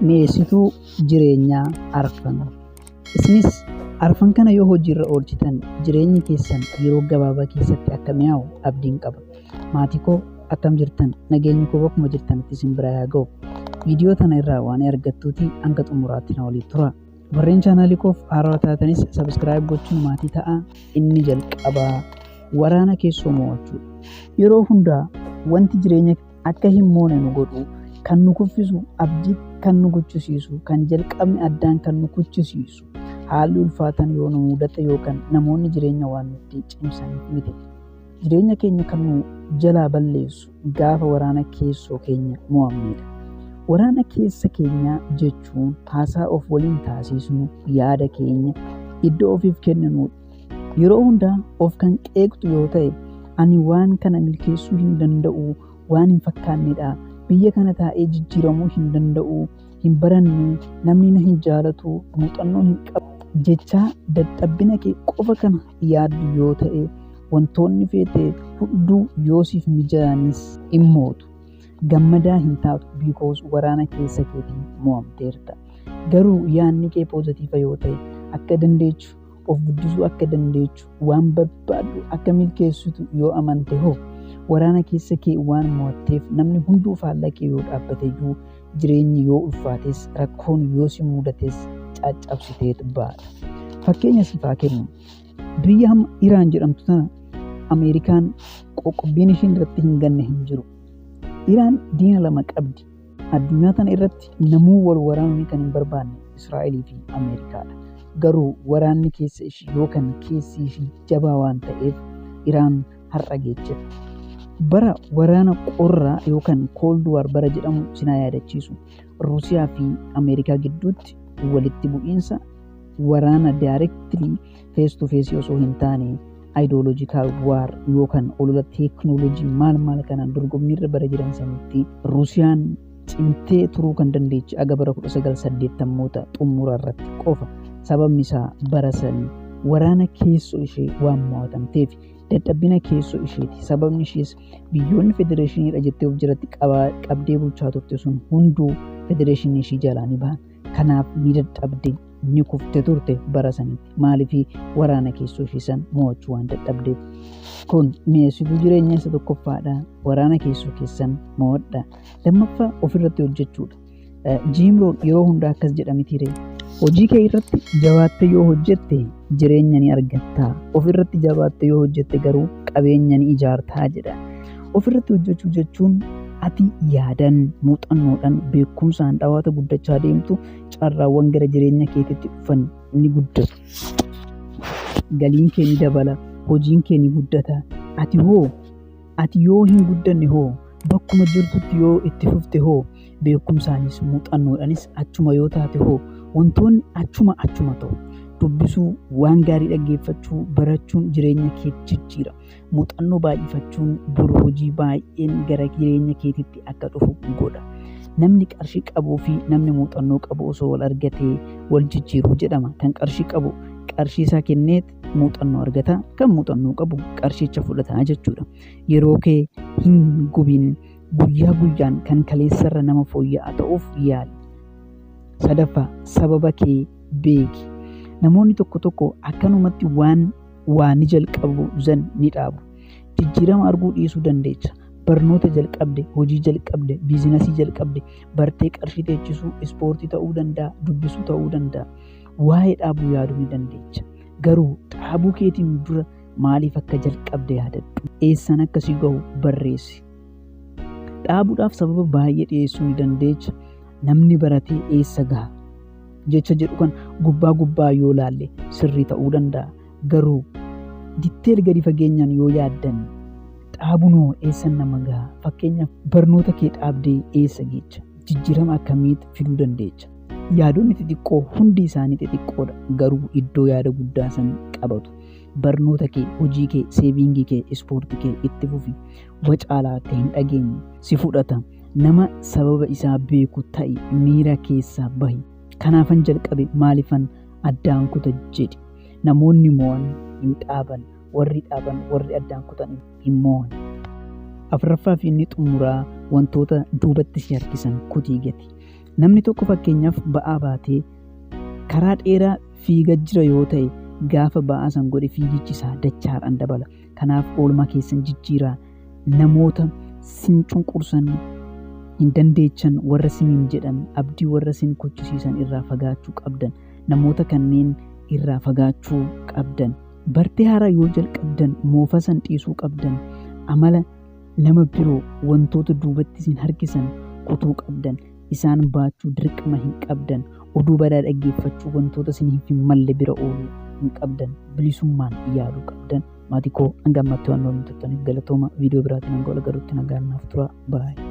mi'eessituu jireenyaa arfan. Isinis arfan kana yoo hojiirra oolchitan jireenyi keessan yeroo gabaabaa keessatti akka mi'aawu abdiin qaba. Maatii koo akkam jirtan? Nageenyi koo bakkuma jirtanitti isin bira haa ga'u. Viidiyoo tana irraa waan argattuuti hanga xumuraatti na waliin tura. Warreen chaanaalii koof haarawaa taatanis sabiskiraayib gochuun maatii ta'a. Inni jalqabaa waraana keessoo mo'achuudha. Yeroo hundaa wanti jireenya akka hin moone nu godhu kan nu kuffisu abdii kan nu gochisiisu kan jalqabni addaan kan nu kuchisiisu haalli ulfaatan yoo nu mudate yookaan namoonni jireenya waan nutti cimsaniif miti jireenya keenya kan nu jalaa balleessu gaafa waraana keessoo keenya mo'amnedha. Waraana keessa keenyaa jechuun haasaa of waliin taasisnu yaada keenya iddoo ofiif kenninu Yeroo hundaa of kan qeeqxu yoo ta'e ani waan kana milkeessuu hin danda'u waan hin fakkaannedha. Biyya kana taa'ee jijjiiramuu hin danda'u, hin baranne, namni na hin jaalatu, muuxannoo hin qabu. Jechaa dadhabbina kee qofa kana yaaddu yoo ta'e wantoonni feete hunduu yoo siif mijaanis hin mootu. Gammadaa hin taatu because waraana keessa keetiin mo'amteerta. Garuu yaadni kee poozatiiva yoo ta'e akka dandeechu of guddisuu akka dandeechu waan barbaaddu akka milkeessitu yoo amante hoo waraana keessa kee waan mo'atteef namni hunduu faallaa kee yoo dhaabbate iyyuu jireenyi yoo ulfaates rakkoon yoo si mudates caccabsiteet baata. Fakkeenya siif haa kennu. Biyya hamma Iraan jedhamtu tana Ameerikaan qoqqobbiin ishiin irratti hin ganne hin jiru. Iraan diina lama qabdi. Addunyaa tana irratti namuu wal waraanuu kan hin barbaanne Israa'elii fi Ameerikaadha. Garuu waraanni keessa ishii yookaan keessi ishii jabaa waan ta'eef Iraan har'a geechifte. Bara waraana qorraa yookaan Cold War bara jedhamu sinaa yaadachiisu. Ruusiyaa fi Ameerikaa gidduutti walitti bu'iinsa waraana daayirektilii fees to fees osoo hin taane ideological war yookaan olola teeknooloojii maal maal kanaan dorgommiirra bara jiran sanitti Rusiyaan cimtee turuu kan dandeechi aga bara 1980moota xumura irratti qofa sababni isaa bara sanii waraana keessoo ishee waan mo'atamteef dadhabbina keessoo isheeti sababni ishees biyyoonni federeeshiniidha jettee of jiratti qabdee bulchaa turte sun hunduu federeeshinii ishii jalaa ni bahan Kanaaf ni dadhabde ni kufte turte bara sanitti maaliif waraana keessoo ishii san mo'achuu waan dadhabdeef. Kun mi'eessituu jireenya isa tokkoffaadha. Waraana keessoo keessan mo'adha. Lammaffaa ofirratti hojjechuudha. Jiimroon yeroo hundaa akkas jedha mitiire. Hojii kee irratti jabaattee yoo hojjette jireenya ni argatta. Ofirratti jabaattee yoo hojjette garuu qabeenya ni ijaartaa jedha. Ofirratti hojjechuu jechuun ati yaadan, muuxannoodhaan, beekumsaan dhawaata guddachaa deemtu carraawwan gara jireenya keetitti dhufan ni guddatu. Galiin kee ni dabala, hojiin kee ni guddata. Ati hoo? Ati yoo hin guddanne hoo? Bakkuma jirtutti yoo itti fufte hoo? Beekumsaanis muuxannoodhaanis achuma yoo taate hoo? Wantoonni achuma achuma ta'u. Dubbisuu, waan gaarii dhaggeeffachuu, barachuun jireenya kee jijjiira. muuxannoo baay'ifachuun bor hojii baay'een gara jireenya keetitti akka dhufu godha. Namni qarshii qabuu fi namni muuxannoo qabu osoo wal argatee wal jijjiiru jedhama. Kan qarshii qabu qarshii isaa kennee muuxannoo argata. Kan muuxannoo qabu qarshicha fudhata jechuudha. Yeroo kee hin gubin guyyaa guyyaan kan kaleessarra nama fooyya'aa ta'uuf yaali. Sadaffaa sababa kee beeki. Namoonni tokko tokko akkanumatti waan waa ni jalqabu zan ni dhaabu. Jijjiirama arguu dhiisuu dandeecha. Barnoota jalqabde, hojii jalqabde, biizinasii jalqabde, bartee qarshii teechisuu, ispoortii ta'uu danda'a, dubbisuu ta'uu danda'a. Waa'ee dhaabuu yaaduu ni dandeecha. Garuu dhaabuu keetiin dura maaliif akka jalqabde yaadadhu. Eessan akka si gahu barreessi. Dhaabuudhaaf sababa baay'ee dhiyeessuu ni dandeecha. Namni baratee eessa gaha? jecha jedhu kan gubbaa gubbaa yoo laalle sirrii ta'uu danda'a. Garuu ditteel gadi fageenyaan yoo yaaddan dhaabunoo eessa nama gaha? Fakkeenyaaf barnoota kee dhaabdee eessa geecha? Jijjiirama akkamiitti fiduu dandeecha? Yaadonni xixiqqoo hundi isaanii xixiqqoodha garuu iddoo yaada guddaa san qabatu. Barnoota kee, hojii kee, seeviingii kee, ispoortii kee itti fufi. Wacaalaa akka hin dhageenye si fudhata. Nama sababa isaa beeku ta'i, miira keessaa bahi. Kanaafan jalqabe maalifan addaan kuta jedhi. Namoonni mo'an hin dhaaban, warri dhaaban warri addaan kutan hin mo'an. Afraffaa fi inni xumuraa wantoota duubatti si harkisan kutii gati. Namni tokko fakkeenyaaf ba'aa baatee karaa dheeraa fiiga jira yoo ta'e gaafa ba'aa san godhe fiigichi isaa dachaadhaan dabala. Kanaaf oolmaa keessan jijjiiraa namoota sin cunqursan hin dandeechan warra siniin jedhan abdii warra sin kuchisiisan irraa fagaachuu qabdan namoota kanneen irraa fagaachuu qabdan bartee haaraa yoo jalqabdan moofa san dhiisuu qabdan amala nama biroo wantoota duubatti sin harkisan kutuu qabdan isaan baachuu dirqama hin qabdan oduu badaa dhaggeeffachuu wantoota siniif hin malle bira ooluu hin qabdan bilisummaan yaaduu qabdan Maatii koo hanga ammaatti waan nu waliin turtaniif galatooma. Viidiyoo biraatiin hanga wal galuutti nagaan naaf tura. Baay'ee.